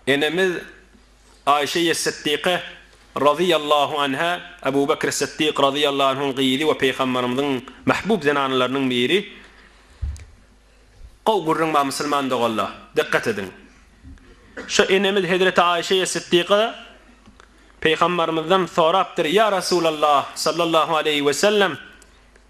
Enemiz Aişeýe Sytdyka, razyýallahu anha, Abu Bakr Sytdyk, razyýallahu anhuň gyzy we Pygamberimiziň mahbub zenanalarynyň biri. Gowy gürrüň bar musulman doganlar, dykgat ediň. Şu enemiz hezreti Aişeýe Sytdyka Pygamberimizden sorapdyr, Ýa Resulallah, sallallahu aleýhi we sellem,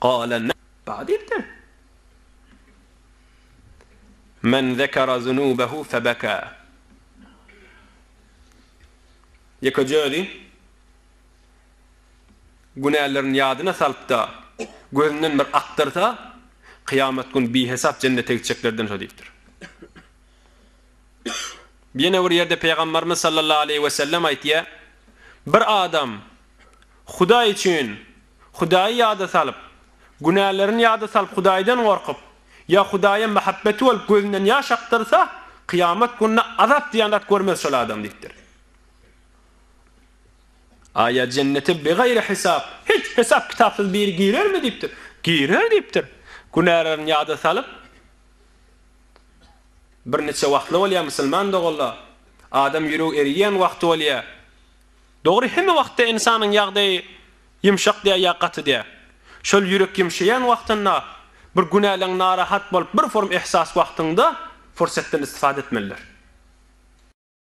Gale men Bada diýipdir. Men zekara zunubehu febeka. Ýekeje özi günälerini ýadyna salypda gözünden bir akdyrsa, kyýamat gün bihesap jennete gitjeklerden şo diýipdir. Ýene bir ýerde Pygambarymyz sallallahu aleýhi wesellem aýtýar, Bir adam Hudaý üçin Hudaýy ýada salyp, günälerini ýada salyp Hudaýdan gorkup, ýa Hudaýa mähebbeti bolup gözünden ýaş akdyrsa, kyýamat gününe azap diýen zat görmez şol adam diýipdir. Aýa jennete bigaýry hisap, hiç hesap kitapsyz biri girermi diýipdir. Girer diýipdir. Günälerini ýada salyp, birniçe wagtly bolýar musulman doganlar, adam ýüregi eriýän wagty bolýar. Dogry hemme wagtda ynsanyň ýagdaýy ýumşak däl ýa gaty däl. Şol ýürek ýumşaýan wagtynda, bir günäleň narahat bolup bir form ihsas wagtyňda fursatdan istifade etmelidir.